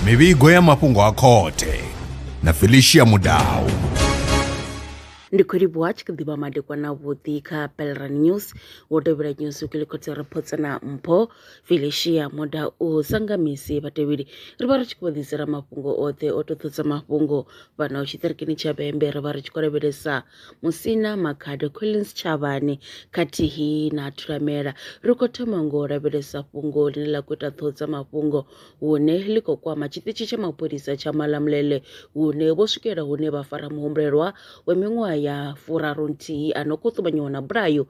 mivhigo ya mafhungo a khothe na felicia mudau ndi khou livhuwa tshi kha ḓivha madekwana vhuḓi kha pelran news wo tevhela news u kilikotse reports na mpho felicia moda u sanga misi vhatevheli ri vha ri tshi khou ḓisela mafhungo oṱhe o toṱhodza mafhungo fhano tshiṱirikini tsha bembe ri vha ri tshi khou lavhelesa Musina Makhado Collins Tshavhani khathihi na Thulamela. Ri khou thoma ngo lavhelesa fhungo ḽine ḽa khou ita ṱhoho dza mafhungo hune ḽi khou kwama tshiṱitshi tsha mapholisa tsha Malamulele hune vho swikela hune vha fara muhumbulelwa wa miṅwaha ya furarunthihi a no khou ṱumanyiwa na bulayo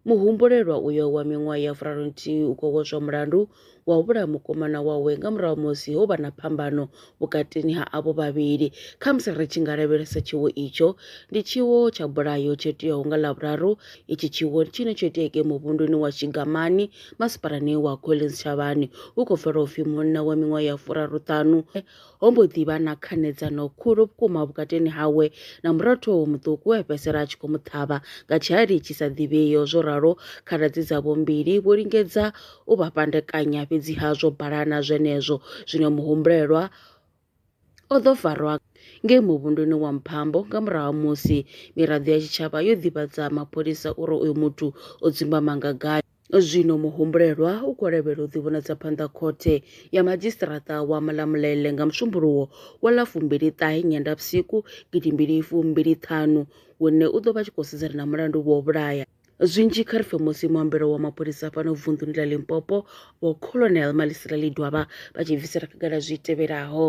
Muhumbulelwa uyo wa miṅwaha ya furarunthihi u khou vhodzwa mulandu wa u vhulaya mukomana wawe nga murahu ha musi ho vha na phambano vhukatini ha avho vhavhili. Khamusi ri tshi nga lavhelesa tshiwo itsho, ndi tshiwo tsha bulayo tsho iteaho nga Ḽavhuraru. Itshi tshiwo ndi tshine tsho itea ngei muvhunduni wa Tshigamani, masipalani wa Collins Shavhani. Hu khou pfala u pfi munna wa miṅwaha ya furaruṱhanu Ho mbo ḓi vha na khanedzano khulu vhukuma vhukatini hawe na murathu wawe muṱuku we a fhedzisela a tshi khou mu ṱhavha nga tshihali tshi sa ḓivhei. Zwo ralo, khaladzi dzavho mbili vho lingedza u vha fhandekanya, fhedziha zwo balana zwenezwo. Zwino muhumbulelwa o ḓo farwa ngei muvhunduni wa Mphambo nga murahu ha musi miraḓo ya tshitshavha yo ḓivhadza mapholisa uri uyu muthu o dzumbama nga gai. Zwino muhumbulelwa u khou lavhelela u ḓivhonadza phanḓa khothe ya madzhisiṱiraṱa wa Malamulele nga Musumbuluwo wa ḽa fumbili ṱahe Nyendavhusiku gidi mbili fumbili ṱhanu, hune u ḓo vha tshi khou sedzana na mulandu wa u vhulaya. Zwinzhi kha ri pfe musi muambelo wa mapholisa fhano vunḓuni ḽa Limpopo, Vho Colonel Malisela Ledwaba vha tshi bvisela khagala zwi tevhelaho.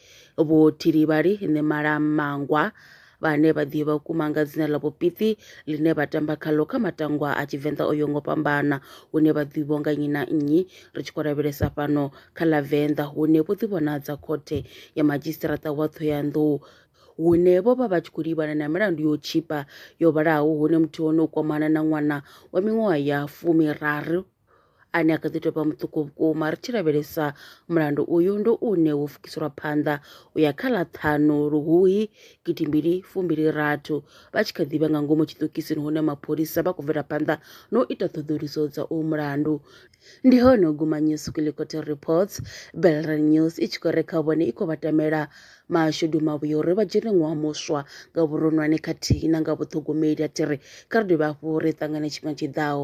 Vhothilivhali ni malamangwa vhane vha ḓivha vhukuma nga dzina ḽa vhopiṱi ḽine vha tamba khaḽo kha matangwa a Tshivenḓa o yongo fhambana hune vha ḓivho nga nnyi na nnyi ri tshi khou lavhelesa fhano kha ḽa Venḓa hune vho ḓivhonadza khothe ya madzhisiṱiraṱa wa Ṱhohoyanḓou hune vho vha vha tshi khou livhana na milandu yo tshipa yo vhalaho hune muthihi hone u kwamana na ṅwana wa miṅwaha ya fumiraru ane a kha ḓi tou vha muṱuku vhukuma ri tshi lavhelesa mulandu uyu ndo une wo fukiselwa phanḓa u ya kha ḽa ṱhanu luhuhi gidi mbili fumbili rathu vha tshi kha ḓivha nga ngomu tshiṱokisini hune mapholisa vha khou bvela phanḓa na u ita ṱhoḓuluso dza uyu mulandu ndi hone u guma news kwilikoto reports belran news i tshi khou re kha vhone i khou vha tamela mashudu mavhuya uri vha dzhene ṅwaha muswa nga vhuronwane khathihi na nga vhuṱhogomeli a thi ri kha ri dovhe hafhu ri ṱangane tshifhinga tshiḓaho